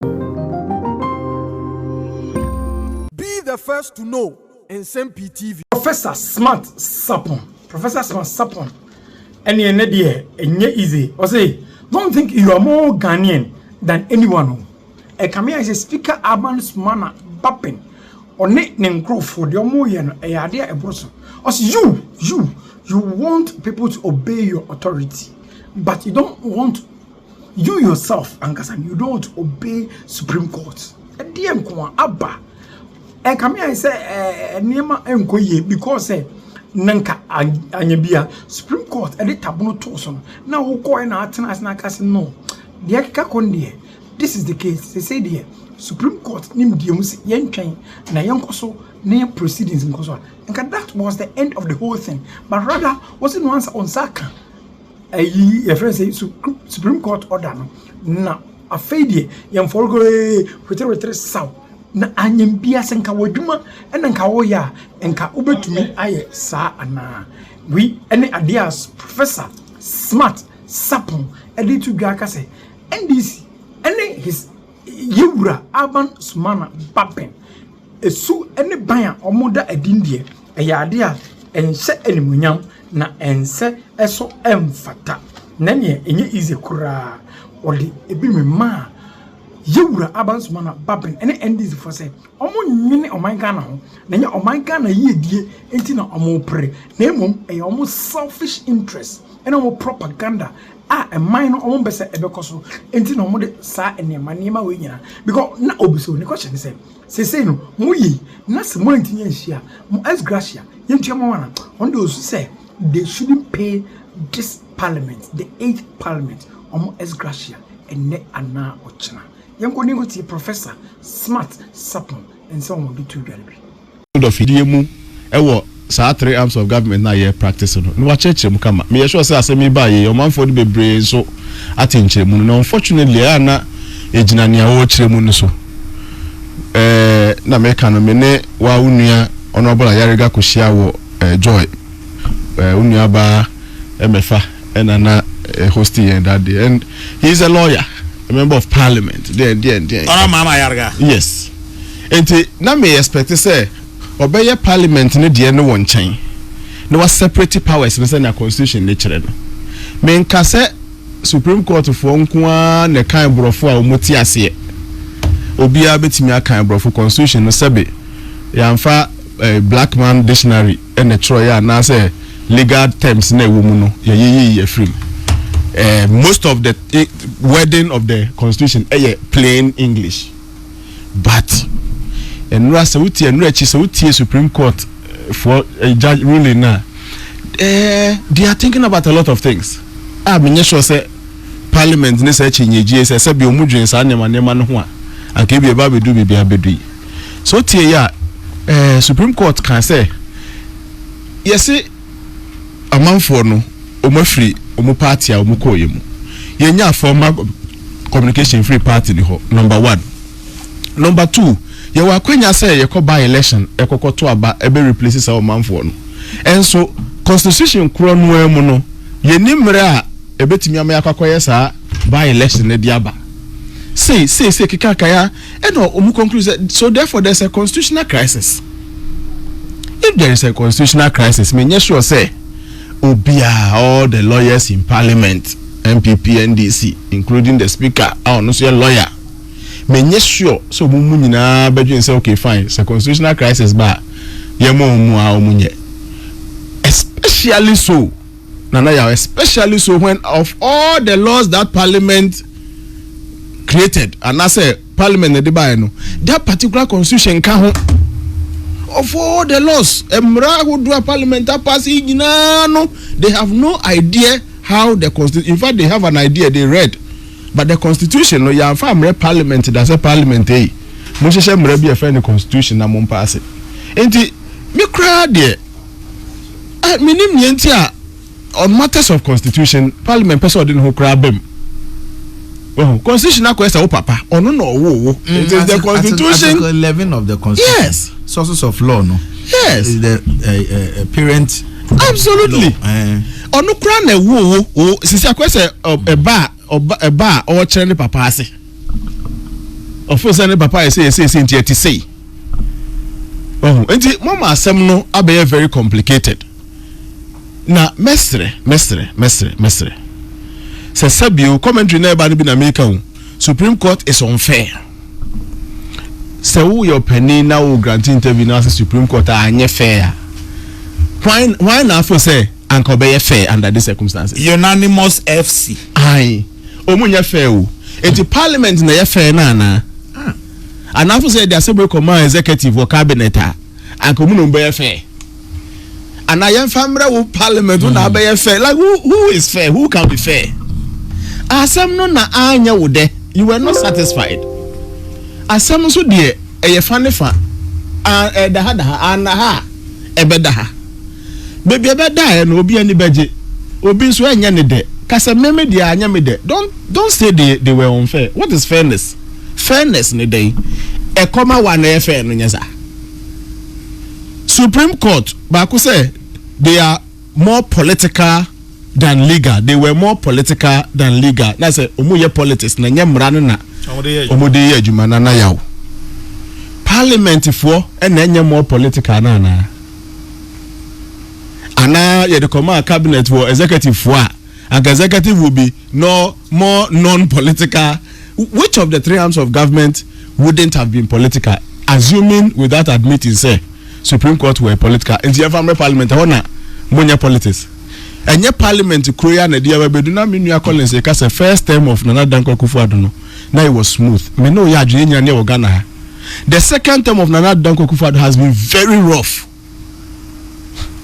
Be the first to know Nsɛm Pii TV. Professor smart sapon professor smart sapon ɛne ɛnɛ deɛ ɛnyɛ easy ɔse don't think you are more Ghanaian than anyone o ɛka me ayɛ sɛ speaker Alban Sumana Bapping ɔne ne nkorɔfoɔ deɛ ɔmo yɛ no ɛyɛ adeɛ a ɛboro so ɔse you you you want people to obey your authority but you don't want You yourself ankasa no you don't obey supreme court ɛdeɛ nko a aba ɛnka me ayɛ sɛ ɛɛ nneɛma nkɔ yie because sɛ na nka anyɛ bi a supreme court ɛde tabono too so no na wokɔɛ na atena ase na aka sɛ no deɛ ɛkeka kɔ no deɛ this is the case sese deɛ supreme court nim deɛ mu sɛ yɛntwɛn na yɛnkɔ so na yɛn proceedings nkɔ so a nka that was the end of the whole thing but rather wɔsi no ansa wɔn nsa aka Ayi yɛfrɛ no sɛ supreme court order no na afei deɛ yɛn fɔrɔgɔee weterewetere saw na anyem bia sɛ nka w'adwuma ɛna nka woyɛ a nka wobɛtumi ayɛ saa anaa wei ɛne adeɛ a professor smart sapon ɛde to dwa ka sɛ ndc ɛne his yɛwura aban sumana baben Su ne ban a wɔda adi no deɛ, ɛyɛ adeɛ a ɛnhyɛ animuonyam, na ɛnsɛ so ɛmfata, na neɛ ɛnyɛ easy koraa. Wɔde ebi memaa Yawura Abansumana Baben ne NDC foɔ sɛ wɔnwene ɔman Ghana ho, na ɛnyɛ ɔman Ghana yiedie nti na wɔpere, na mmom ɛyɛ wɔn selfish interest ne wɔn propaganda a ɛman no wɔmpɛ sɛ ɛbɛkɔ so nti na wɔde saa nneɛma nneɛma wei nyinaa, because na obi so ne question ne sɛ. Seesei no, mo ye yi, na sɛ moantumi anhyia mo ex gratia, yɛntua mo ho ana? Wɔn deɛ wɔsu sɛ they shouldn't pay this parliament, the eighth parliament, wɔn ex gratia ɛnnɛ anaa ɔkyena. Yɛnkɔ na yɛnkɔtie Professor Smart Sarpong nsɛm a wɔde too dwa no bi. code of yie mu wɔ saa three arms of government no a yɛ practice no na wakyerɛkyerɛ mu kama. Meyɛ sure sɛ asɛm yi baeɛ yi ɔmanfoɔ no bebree nso ate nkyerɛmu no na unfortunately ɛyɛ a na ɛgyina nea wɔrekyerɛ mu no so. Ɛɛ na meka no me ne wa wo nua Honourable Ayariga kɔhyia wɔ ɛɛ Joy ɛɛ wo nua baa ɛmɛfa ɛna na eh, hosting yɛn that day and he is a lawyer a member of parliament deɛn deɛn deɛn Ɔno maama Ayariga. yes Nti na me expect sɛ ɔbɛyɛ parliament no deɛ no wɔ nkyɛn na wa separate powers no sɛnea constitution no kyerɛ no. Me nka sɛ supreme court foɔ nko ara na ɛkan borɔfo a wɔn te aseɛ. Obiara bɛtumi akan borɔfo constitution no sɛbe yɛanfa eh, black man dictionary na ɛtwerɛeɛ anaasɛ legal terms na ɛwɔ mu no yɛyeyii afiri mu. Eh, most of the eh, wording of the constitution ɛyɛ plain English. but ɛnora sɛ wotie ɛnora akyi sɛ wotie supreme court for eh, judge ruling na eh, they are thinking about a lot of things a ah, menyɛ sure sɛ parliament ne sɛ akyi nyɛgyie sɛ sɛ bi ɔmu dwen saa nneɛma nneɛma no ho a anka ebi ɛba abɛdu biribi abɛdu yi so tie yɛ a eh, supreme court kan sɛ yɛse amanfoɔ no wɔn afiri wɔn party a wɔn kɔɔeɛ mu. Yɛnyaa formal communication firi party no hɔ, number one. Number two, yɛwɔ akwanya sɛ yɛkɔ by election ɛkɔkɔ to aba ɛbɛ replace saa ɔmanfoɔ no. Ɛnso constitution korɔ no ara mu no, yɛnni mmerɛ a ɛbɛtumi ama yɛakɔ akɔyɛ saa by election no de aba. Sei, sei, sei kekaakaya. Ɛna wɔn conclude sɛ so therefore there is a constitutional crisis. If there is a constitutional crisis, me nyɛ sure sɛ obiara all the lawyers in parliament NPP NDC including the speaker a ɔno nso yɛ lawyer. Me nyɛ sure sɛ wɔn mu nyinaa bɛdwen sɛ okay fine sɛ constitutional crisis ba a yɛma wɔn mu a wɔn nyɛ. Especially so. Nana Yaw especially so when of all the laws that parliament created anasɛ parliament na de baeɛ no that particular constitution nka ho of all the laws mmara ahodoɔ a parliament apase yi nyinaa no they have no idea how the constitution in fact they have an idea they read but the constitution no yɛamfa mmerɛ parliament da sɛ parliament ei monhyehyɛ mmara bi a ɛfɛ ne constitution na mompaase nti me koraa deɛ Eh, menim nea nti a on matters of constitution, parliament pɛ sɛ ɔde ne ho koraa bam. Wahu, constitution akɔyɛ sɛ wo papa, ɔno na ɔwoo wo. Mm, It is the constitution. Article 11 of the constitution. Yes. Sources of law no. Yes. Is the uh, uh, parent. Absolutely. Eh. Ɔno koraa na ɛwoo wo. Sisi akɔyɛ sɛ ɛba a ɔba ɛba a ɔkyerɛ ne papa ase. Ɔfo sɛ ne papa ayɛ sɛ yɛsɛ yɛsɛ nti ɛte sei. Ɔho nti mama asɛm no abɛyɛ very complicated. Na mɛsrɛ mɛsrɛ mɛsrɛ mɛsrɛ sɛ sɛbio commentary na ɛba no bi na meka o Supreme Court is unfair. Sɛ wo yɛ ɔpanin na wo grant interview na sɛ Supreme Court a anyɛ fair a why why na afo sɛ anka ɔbɛyɛ fair under this circumstances. Unanimous FC. Aye. Ɔmu nyɛ fɛ o. Enti parliament na ɛyɛ fɛ no anaa? Anaafo sɛ yɛde asɛm wei kɔmaa executive wɔ cabinet a, anka ɔmu na ɔmu bɛyɛ fɛ? Anaa yɛmfa mmerɛ wo parliament wo na hmm. abɛyɛ fɛ? Like who, who is fair? Who can be fair? Asɛm no na anyɛ wo dɛ. You were not satisfied. Asɛm nso deɛ ɛyɛ fa ne fa. Ɛdaha daha, anaha ɛbɛdaha. Baabi a ɛbɛdaeɛ no obi ani bɛgye, obi nso ɛnyɛ ne dɛ. Ka sɛ, Me, me deɛ anyɛ me dɛ. Don't, don't say they, they were unfair. What is fairness? Fairness ne dɛn? Ɛkɔm a wo a na ɛyɛ fair no nyɛ saa. Supreme Court baako sɛ they are more political than legal. They were more political than legal. Na sɛ wɔn yɛ politics na nyɛ mmara no na wɔn de yɛ adwuma na na yaw. Parliament foɔ ɛna ɛnyɛ more political na anaa. anaa yɛde kɔmaa cabinet wɔ executive fo a anka executive will be no more non-political which of the three arms of government wouldn't have been political assuming without admitting sɛ supreme court were political nti yɛmfa mmerɛ parliament ɛhɔ na monyɛ politics ɛnyɛ parliament kuro yi a na ɛde yɛba bɛdu na me nua Collins ɛka sɛ first term of Nana Dankwa Akufo-Addo no na it was smooth me ne wo yɛ adwene yɛnyina ne yɛwɔ Ghana ha the second term of Nana Addo Dankwa Akufo-Addo has been very rough.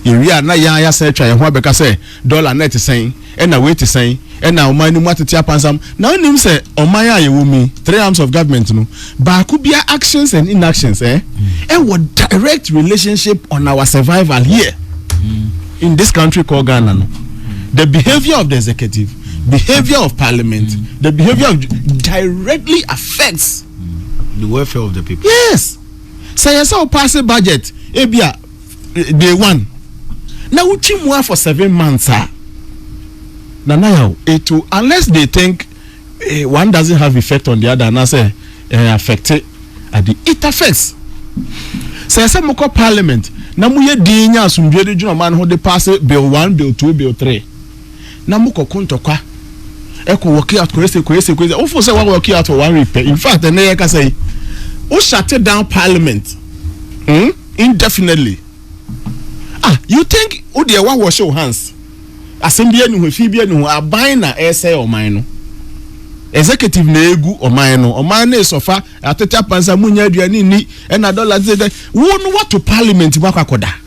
Yɛwie a na yɛn a yɛasan atwa yɛn ho abɛka sɛ dɔla na ɛte sɛn, ɛna wei te sɛn, ɛna ɔman no mu atete apansam. Na wonim sɛ ɔman a yɛwɔ mu three arms of government no, baako biara actions and inactions eh, ɛwɔ direct relationship on our survival here in this country called Ghana no. The behavior of the executive, behavior of parliament, the behavior of directly affects the welfare of the people. yes sɛ yɛ sɛ o paase budget ebi a day one na o twi mu a for seven months a nana yaw it will unless they think eh, one doesn't have effect on the other anaasɛ eh, affect ade it affects sɛ sɛ mo kɔ parliament na mo yɛ din nya asomdwe de dwuma ɔman ho de paase bill one bill two bill three. na mo kɔ ko ntɔkwa ɛkɔ wɔki out kɔyɛ sɛ kɔyɛ sɛ kɔyɛ sɛ wofo sɛ wa wɔki out wɔ one week pɛ in fact ɛnɛ yɛ kasa yi wo shut down parliament hmm? indefinitely ah you think wo deɛ wa wash your hands asɛm bi ɛni ho efi bi ɛni ho aban na ɛsɛ ɔman no executive na egu ɔman no ɔman no esɔfa atete apansa mu nya aduane ni ɛna dɔla tete wo no wato parliament mu akɔ akɔda.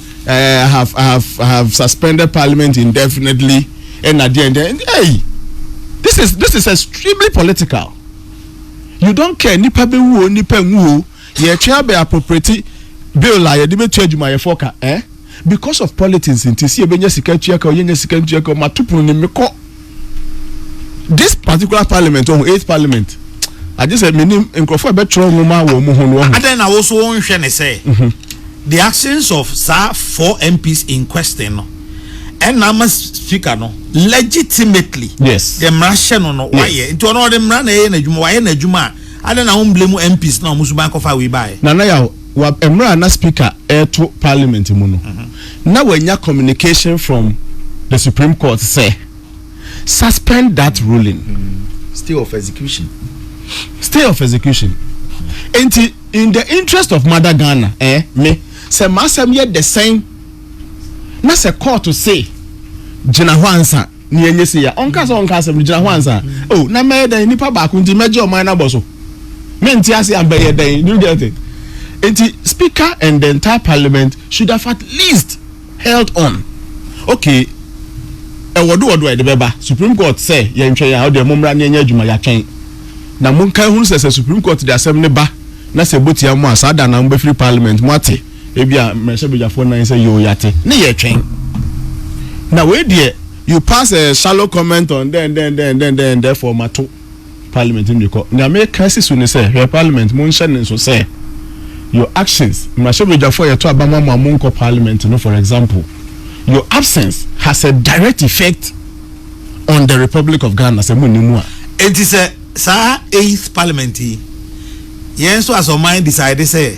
Eh, I have, I have, I have suspended parliament indefinitely. And at the end, and, hey, this is this is extremely political. You don't care nipa be wo nipa nwu. Ye twa be appropriate bill a ye de betu adwuma ye foka, eh? Because of politics nti si ebenya sika tua ka, ye nya sika tua ka, ma tupunu ne mekɔ. this particular parliament ɔho eighth parliament agye sɛ menim nkurɔfoɔ a bɛtwerɛ nwoma wɔ mu ho no ɔho adɛn na wo so wonhwɛ ne sɛ mhm. the actions of saa four mps in question no ɛna ama speaker no legitimately yes the mmara hyɛ no no wayɛ nti ɔno ɔde mmara na ɛyɛ n'adwuma wayɛ n'adwuma a adɛn na womble mu mps na ɔmo suban kɔfa wei baeɛ nana yaw Wɔ mmerɛ a na Speaker reto Parliament mu no, na wanya communication from the Supreme Court sɛ, Suspend that ruling. Stay of execution. Stay of execution. Enti, in the interest of Mother Ghana, eh, me, sɛ m'asɛm yɛ dɛ sɛn, na sɛ Court se gyina hɔ ansa, Nea ɛnyɛ sei a, ɔnka sɛ ɔnka asɛm no, gyina ho ansa. Oh, na mɛyɛ dɛn? Nipa baako nti mɛgye ɔman no abɔ so? Mente ase a, bɛyɛ dɛn? Do you get it? Nti, Speaker and the entire Parliament should have at least held on. Okay, ɛwɔ do wɔ do a yɛde bɛba Supreme Court sɛ yɛntwɛn a, ɔdeɛ mommra ne ɛnyɛ adwuma, yɛatwɛn. Na monka hunu sɛ sɛ Supreme Court de asɛm no ba na sɛ ɛbɔ tia mo a, saa da no ara mobɛfiri Parliament, moate? Ebi a mmarahyɛbadwafoɔ nan sɛ yoo yate ne yɛtwɛn. Na wei deɛ you pass a shallow comment on dɛn dɛn dɛn dɛn dɛn therefore mato parliament no mekɔ. Nea meka si so ne sɛ hwɛ parliament monhyɛ ne nso sɛ your actions mmarahyɛbadwafoɔ yɛto aba ma mo a monkɔ parliament no for example your absence has a direct effect on the republic of Ghana sɛ monni mu a. Enti sɛ saa eighth parliament yi yɛn nso as ɔman decide sɛ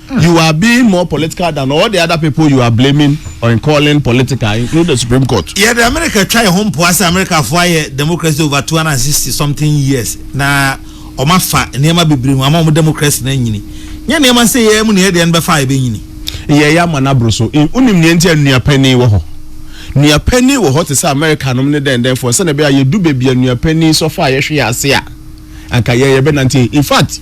You are being more political than all the other people you are blaming or calling political, including the Supreme Court. Yɛde Amerika twa yɛn ho mpoa sɛ Amerikafo ayɛ democracy over 260 something years na wɔafa nneɛma bebree mu ama wɔn democracy no anyini. Nyɛ nneɛma sɛ yɛn mu na yɛn deɛ no bɛfa a ɛbɛnyini. Yɛn yɛ ama no aboro so. Wonim nea nti a nua panin wɔ hɔ? Nua panin wɔ hɔ te sɛ Amerikanom ne dɛndɛnfoɔ sɛdeɛ ɛbɛyɛ a yɛdu baabi a nua panin sɔfa a yɛhwe yɛn ase a, anka yɛn yɛbɛnante. In fact,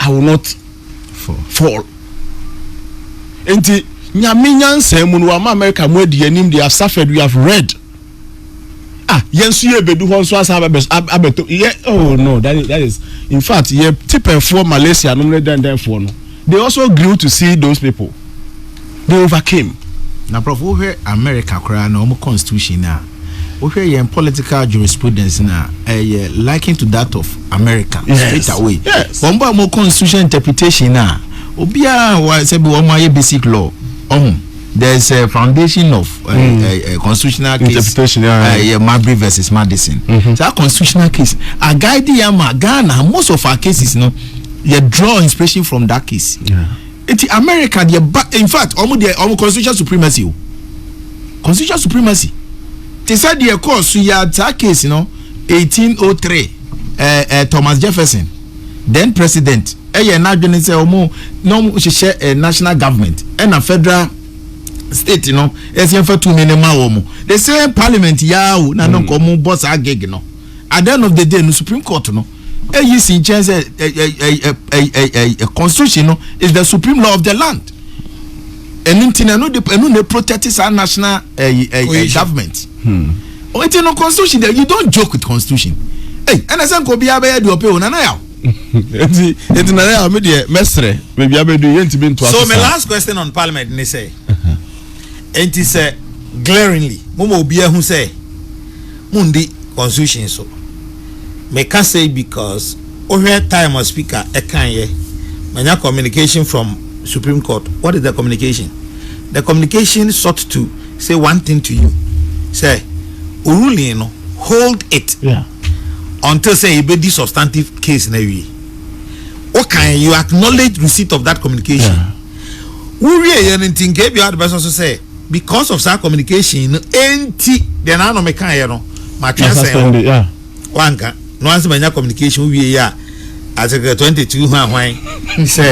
I will not fall. fall. Nti nyame nyansa mu no wama America mu adi anim they have suffered we have read. Ah, yɛn nso yɛ bedu hɔ nso asa abɛto yɛ oh no that is, that is in fact yɛ tipɛfoɔ Malaysia nom ne dɛndɛnfoɔ no they also grew to see those people. They overcame. Na prof wo hwɛ America koraa na wɔn constitution no a, wo hwɛ yɛn political jurisprudence no a, ɛyɛ likened to that of America yes. straight away. Yes. Wɔn bɔ wɔn constitution interpretation no a, obiara wa sɛ bi wɔn ayɛ basic law ɔho. Oh, there is a foundation of uh, mm. uh, uh, constitutional case interpretation yeah, yeah. Uh, Marbury versus Madison. Mm -hmm. So that constitutional case, a guide Ghana, most of our cases, you know, you draw inspiration from that case. Yeah. Eti America deɛ ba in fact ɔmo deɛ ɔmo constitutional supremacy o constitutional supremacy te sɛ deɛ ɛkɔɔ so yɛ saa case no 1803 ɛɛ ɛɛ Thomas Jefferson then president ɛyɛ n'adwene sɛ ɔmo na ɔmo hyehyɛ ɛɛ national government ɛna federal state no ɛsɛ yɛn fa tumi ne ma wɔn the same parliament yaa o na no nka ɔmo bɔ saa gig no at the end of the day no supreme court no. Eyi si nkyɛn sɛ ɛɛ constitution no is the supreme law of the land. Ɛnu nti na ɛnu de ɛnu na protect saa national ɛɛ ɛɛ government. Hmm. Nti no constitution de you don't joke with constitution. Hey, ɛna sɛ nka obiara bɛyɛ deɛ ɔpɛ o nana yaw. Nti nti nana yaw mi deɛ mɛsrɛ beebi abɛdu yɛ ntumi nto asesa. So my last question on parliament ni sɛ nti sɛ glaringly mo ma obiara hu sɛ mo ndi constitution so. Me ka sei because wohwɛ time a speaker ɛkan yɛ manya communication from supreme court what is the communication the communication sought to say one thing to you sɛ wo ruling no hold it until sɛ yɛbɛdi substantive case no awie wo kan you acknowledge receipt of that communication wo wie yɛ no nti nka ebia wode bɛsɔ so sɛ because of saa communication no enti deɛ naano mekaeɛ no matwe asɛn hɔ wanka na wansi manya communication wowie yɛ a asekɛ 22 ho ahwan sɛ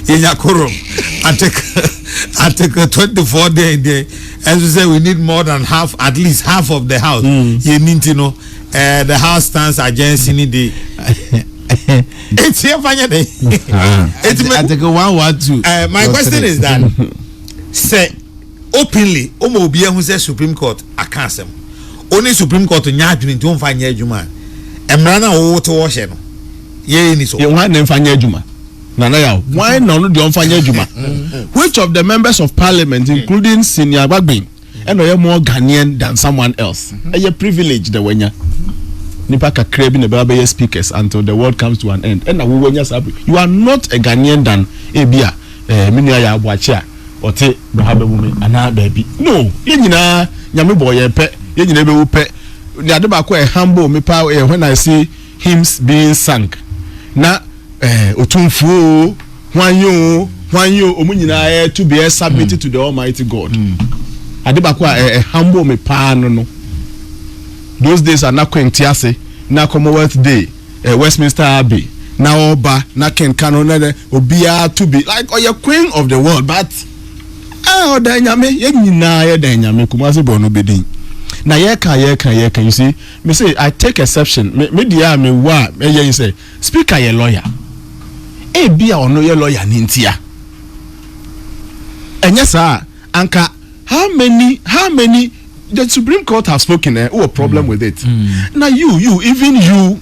yɛnya korom article 24 deɛ deɛ ɛnso sɛ we need more than half at least half of the house hmm. yɛni nti no eh, the house stands agency ni de Eti ɛfa nyɛ dɛ. Eti mɛ. Ateke one one two. Eh, my question is that sɛ openly o ma obi ehu sɛ supreme court aka asɛm o ne supreme court nya adwene nti o nfa nyɛ adwuma a mmara na o te wɔ hyɛ no yɛ ni so. yɛ wɔn na nfa nyɛ adwuma nana yaw wɔn na ɔno deɛ ɔnfa nyɛ adwuma which of the members of parliament including senior agbagben. Ɛna ɔyɛ more Ghanaian than someone else. Mm-hmm. Ɛyɛ privilege na wanya. Mm-hmm. Nipa kakra bi na ɛbɛba bɛyɛ speakers until the world comes to an end. Ɛna wo wanya saa You are not a Ghanaian than ebi a ɛɛ eh, mi nua yɛ aboakye a ɔte bɛha bɛwu mi anaa baabi. No, yɛn nyinaa nyame bɔ yɛn pɛ, yɛn nyinaa bɛwu pɛ. Ne ade baako a ɛhambo mi paa yɛ when I see. Hymns being sung, na eh, Otumfo o, hwan ye o, hwan ye o, wɔn nyinaa reto bi resubmit to the Almighty God. Ade baako a ɛ- ɛhambo me paa no no, those days a na Queen te ase, na Commonwealth Day, eh, Westminster Abbey, na ɔba, na Ken ka no, na na obiara to bi, like ɔyɛ Queen of the world, but ah, ɔda Nyame, yɛn nyinaa yɛda Nyame, Kumasi Borno Bedin. Na yɛka, yɛka, yɛka, you see, Me se I take exception me me deɛ a me wɔ a ɛyɛ ne sɛ speaker yɛ lawyer ebi a ɔno yɛ lawyer ne ntia ɛnyɛ saa anka how many how many the supreme court have spoken eh wɔ problem mm. with it mm. na you you even you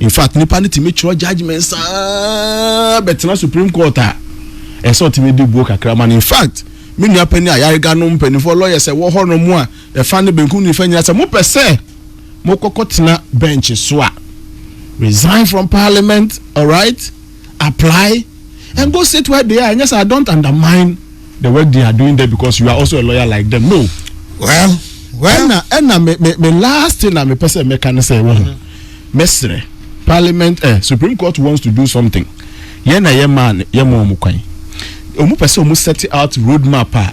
infact nipa no tumi twerɛ judgement saa bɛtena supreme court a ɛsɛ ɔtumi de buo kakra ma no infact me nua panyin a yarega no mpanimfoɔ lawyers ɛwɔ hɔ nom a ɛfa ne benkum nifa nyina sɛ mopɛ sɛ mokɔkɔ tena bench so a resign from parliament alright apply and go sit where they are ɛnyɛ sɛ I don't undermine the work they are doing there because you are also a lawyer like them no. well well ɛna ɛna me me me last thing na me pɛ sɛ mɛka ne sɛ wɔn mɛsrɛ parliament eh, supreme court wants to do something yɛn na yɛ maa yɛ maa wɔn kwan wɔn pɛ sɛ wɔn set out road map a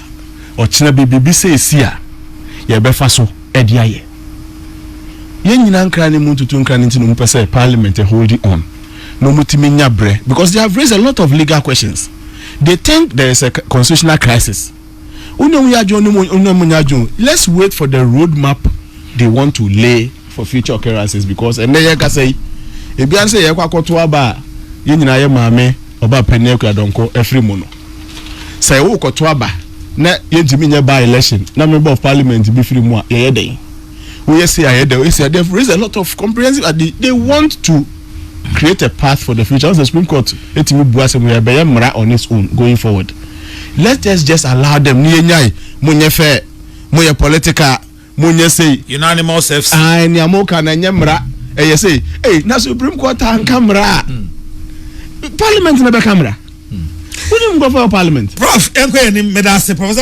ɔkyerɛ bi biribi sɛ esi a yɛbɛfa so ɛde ayɛ yɛn nyinaa nkran ne mu ntutu nkran ne ti na wɔn pɛ sɛ parliament eh, hold it on. na wɔn tumi nya brɛ because they have raised a lot of legal questions they think there is a constitutional crisis wɔn na wɔn yɛ adwene wɔn na wɔn nyɛ adwene let's wait for the road map they want to lay for future occurrences because ɛnna yɛ kasa yi ebi ara sɛ yɛ kɔ akɔto aba a yɛn nyinaa yɛ maame ɔba panyin akura dɔnkɔ afiri mu no sɛ yɛ wɔ kɔto aba na yɛn ntumi nyɛ by election na member of parliament bi firi mu a yɛyɛ dɛn. woyɛ sei ayɛ dɛ woyɛ sei they have raised a lot of comprehensive uh, they, they want to create a path for the future ɔsɛ supreme court etimi bu asɛm yɛ bɛyɛ mmara on its own going forward let us just allow them ne yɛnyae mo nyɛ fɛ mo yɛ political mo nyɛ sei unanimous fc ah nea mo ka na nyɛ mmara ɛyɛ sei ei na supreme court anka mmara a hmm. parliament na bɛka mmara hmm. wonim nkurɔfoɔ wɔ parliament prof ɛnkɔ yɛ ni mmeda ase professor